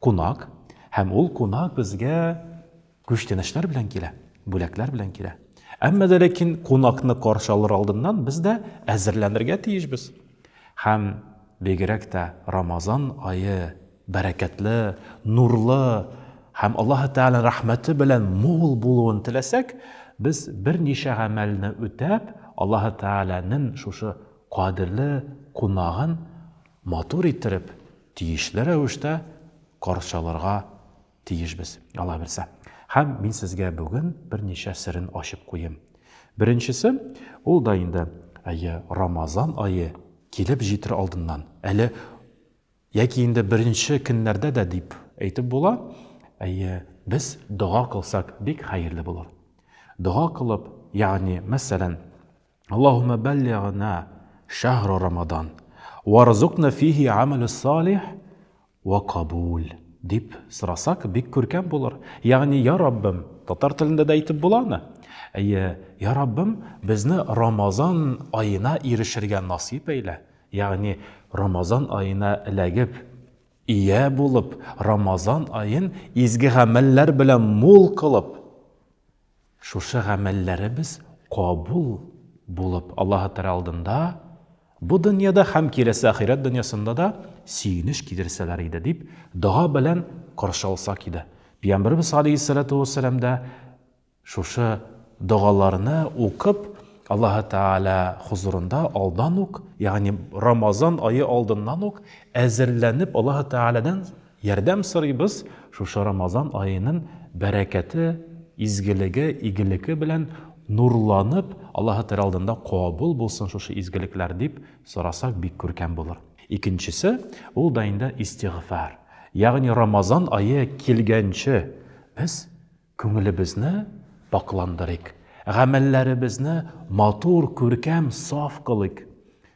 Кунак, һәм ул кунак безгә күчтәнәчләр белән килә, бүләкләр белән килә. Әмма дә ләкин кунакны каршы алыр алдыннан без дә әзерләнергә тиешбез. Һәм бигрәк тә Рамазан ае бәрәкәтле, нурлы һәм Аллаһы Тәгалә рәхмәте белән мул булуын теләсәк, без берничә гамәлне үтәп, Аллаһы Тәгаләнең шушы кадерле кунагын матур иттереп, Тиешле рәвештә каршыларга тиешбез, Алла бирсә. Һәм мин сезгә бүген берничә серен ачып куем. Беренчесе, ул да инде, әйе, Рамазан ае килеп җитер алдыннан, әле яки инде беренче көннәрдә дә дип әйтеп була, әйе, без дога кылсак, бик хәерле булыр. Дога кылып, ягъни, мәсәлән, Аллаһумма баллигъна шахра рамадан варзукна фихи амале салих ва кабул дип сорасак бик күркәм булыр. Ягъни я Раббым, татар телендә дә әйтеп буламы? Әйе, я Раббым, безне Рамазан аена ирешергә насыйп әйлә. Ягъни Рамазан аена эләгеп, ия булып, Рамазан аен изге гамәлләр белән мул кылып, Шушы гамәлләребез кабул булып, Аллаһы Тәгалә алдында бу дөньяда һәм киләсе ахирәт дөньясында да сөенеч китерсәләр иде, дип дога белән каршы алсак иде. Пәйгамбәребез галәйһиссәлату вәссәлам да шушы догаларны укып, Аллаһы Тәгалә хозурында алдан ук, ягъни Рамазан ае алдыннан ук әзерләнеп, Аллаһы Тәгаләдән Ярдәм сорыйбыз, шушы Рамазан аенын бәрәкәте, изгелеге, игелеке белән нурланып, Аллаһы Тәгалә алдында кабул булсын шушы изгелекләр, дип сорасак бик күркәм булыр. Икенчесе, ул да инде истигъфар. Ягъни Рамазан ае килгәнче без күңелебезне пакъландырыйк, гамәлләребезне матур, күркәм, саф кылыйк.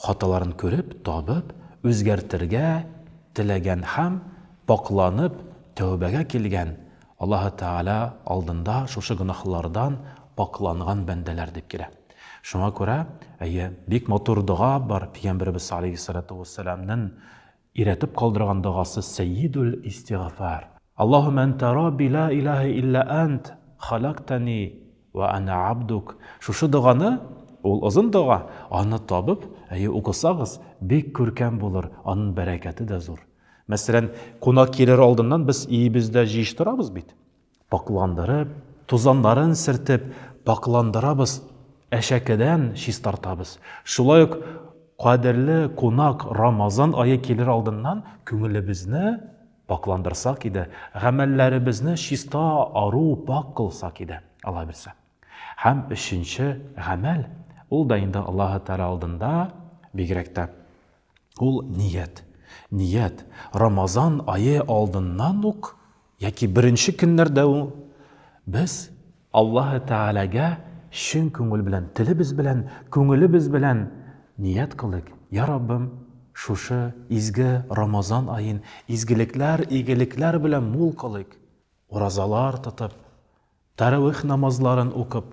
Хаталарын күреп, табып, үзгәртергә теләгән һәм пакъланып тәүбәгә килгән, Аллаһы Тәгалә алдында шушы гөнаһлардан пакъланган бәндәләр дип килә. Шуңа күрә, әйе, бик матур дога бар Пигамбәребез алейһиссалату уәссәламнен Өйрәтеп калдырган догасы Сәйидүл истигафар. Аллаһумә әнтә Рабби лә иләһә илля әнт, халактани вә әнә абдук. Шушы доганы, ул озын дога, аны табып, әйе, укысагыз, бик күркәм булыр, анын бәрәкәте дә зур. Мәсәлән, кунак килер алдыннан без өебездә җыештырабыз бит. Пакъландырып, тузаннарын сертеп, пакъландырабыз, әшәкедән чистартабыз. Шулай ук кадерле кунак Рамазан ае килер алдыннан күңелебезне пакъландырсак иде, гамәлләребезне чиста, ару, пакь кылсак иде, Алла бирсә. Һәм өченче гамәл, ул да инде Аллаһы Тәгалә алдында, бигрәк тә Ул ният. Ният, Рамазан ае алдыннан ук яки беренче көннәрдә ү без Аллаһы Тәгаләгә чын күңел белән, телебез белән, күңелебез белән ният кылыйк, Йа Раббым, шушы изге Рамазан аен изгелекләр, игелекләр белән мул кылыйк. Уразалар тотып, Тәравих намазларын укып,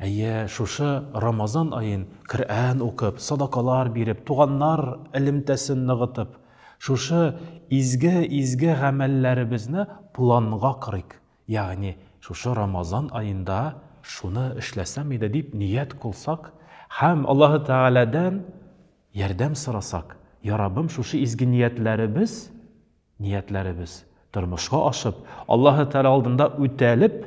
әйе, шушы Рамазан аен Коръән укып, садакалар биреп, туганнар элемтәсен ныгытып, шушы изге-изге гамәлләребезне планга корыйк, ягъни шушы Рамазан аенда шуны эшләсәм иде дип ният кылсак һәм Аллаһы Тәгаләдән ярдәм сорасак, Яраббым, шушы изге ниятләребез, Ниятләребез тормышка ашып, Аллаһы Тәгалә алдында үтәлеп,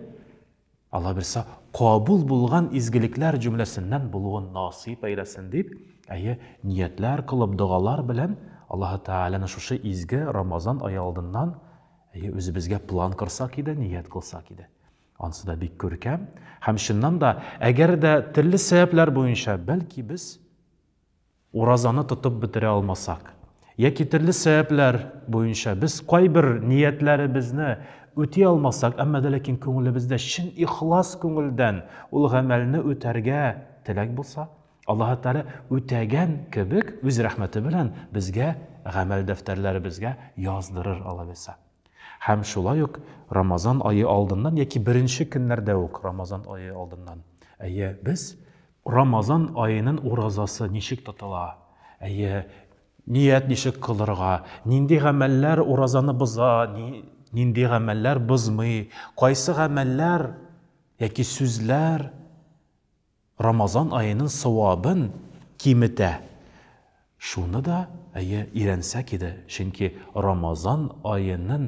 Аллабирса, кабул булган изгелекләр җөмләсеннән булуын насыйп әйләсен дип, әйе, ниятләр кылып, догалар белән Аллаһы Тәгаләне шушы изге Рамазан ае алдыннан әйе, үзебезгә план корсак иде, ният кылсак иде. Ансы да бик күркәм. Һәм чыннан да, әгәр дә төрле сәбәпләр буенча, бәлки без Уразаны тотып бетерә алмасак, яки төрле сәбәпләр буенча без кайбер ниятләребезне үти алмасак, әмма дә ләкин күңелебездә чын ихлас күңелдән ул гамәлне үтәргә теләк булса, Аллаһы Тәгалә үтәгән кебек үз рәхмәте белән безгә гамәл дәфтәрләребезгә яздырыр, алайса. Һәм шулай ук Рамазан ае алдыннан яки беренче көннәрдә үк Рамазан ае алдыннан, әйе, без Рамазан аенын уразасы ничек тотыла? Әйе, ният ничек кылырга? Нинди гамәлләр уразаны боза, нинди гамәлләр бозмый? Кайсы гамәлләр яки сүзләр Рамазан аенын савабын киметә? Шуны да, әйе, өйрәнсәк иде, чөнки Рамазан аенын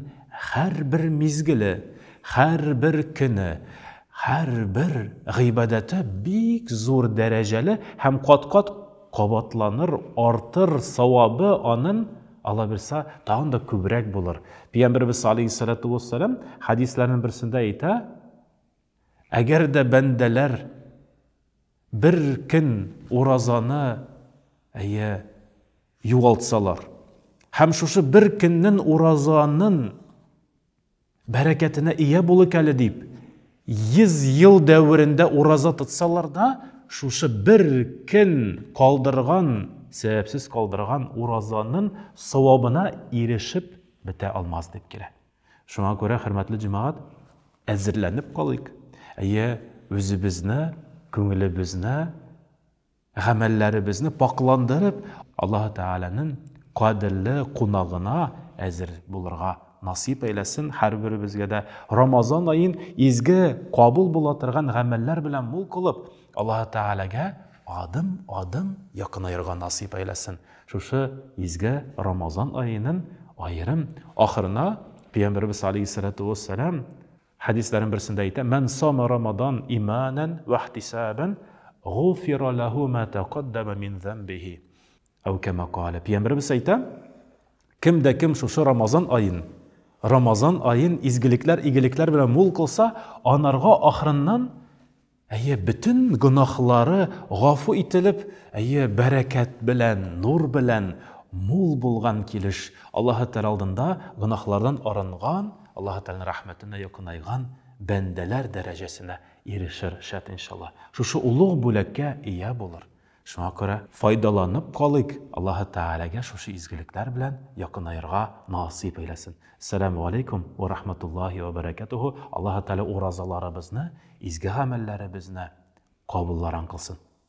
һәрбер мизгеле, һәрбер көне, һәрбер гыйбадәте бик зур дәрәҗәле һәм кат-кат кабатланыр, артыр, савабы анын, Алла бирса, тагын да күбрәк булыр. Пигамберебез алейһиссалату уассалам хәдисләрнен берсендә әйтә, Әгәр дә бәндәләр Бер көн уразаны, әйе, югалтсалар. Һәм шушы бер көннен уразанын бәрәкәтенә ия булыйк әле дип, 100 ел дәверендә ураза тотсалар да, шушы бер көн калдырган, сәбәпсез калдырган уразанын савабына ирешеп бетә алмас дип килә. Шуңа күрә, хөрмәтле җәмәгать, әзерләнеп калыйк. Әйе, үзебезне, күңелебезне, гамәлләребезне пакъландырып, Аллаһ Тәгаләнең кадерле кунагына әзер булырга насыйп әйләсен һәрберебезгә дә. Рамазан аен изге, кабул була торган гамәлләр белән мул кылып, Аллаһ Тәгаләгә адым-адым якынаерга насыйп әйләсен. Шушы изге Рамазан аеның аерым ахырына Пәйгамбәребез алейһиссалату вәссәлам хәдисләрен берсендә әйтә, Мән сама Рамадан иманан вә ихтисабан, гуфира лаху ма тәкаддама мин замбихи. Ау кәмә каля. Пәйгамбәребез әйтә, кем дә кем шушы Рамазан аен, Рамазан аен изгелекләр, игелекләр белән мул кылса, анарга ахырыннан Әйе, бөтен гөнаһлары гафу ителеп, әйе, бәрәкәт белән, нур белән мул булган килеш Аллаһы Тәгалә алдында гөнаһлардан арынган, Аллаһы Тәгаләнең рәхмәтенә якынайган бәндәләр дәрәҗәсенә ирешер, шәт иншаллаһ. Шушы олуг бүләккә ия булыр. Шуңа күрә файдаланып калыйк, Аллаһы Тәгаләгә шушы изгелекләр белән якынаерга насыйп әйләсен. Әссәләмү галәйкүм вә рахматуллаһи вә бәрәкәтүһү, Аллаһы Тәгалә уразаларыбызны, изге гамәлләребезне кабулларан кылсын.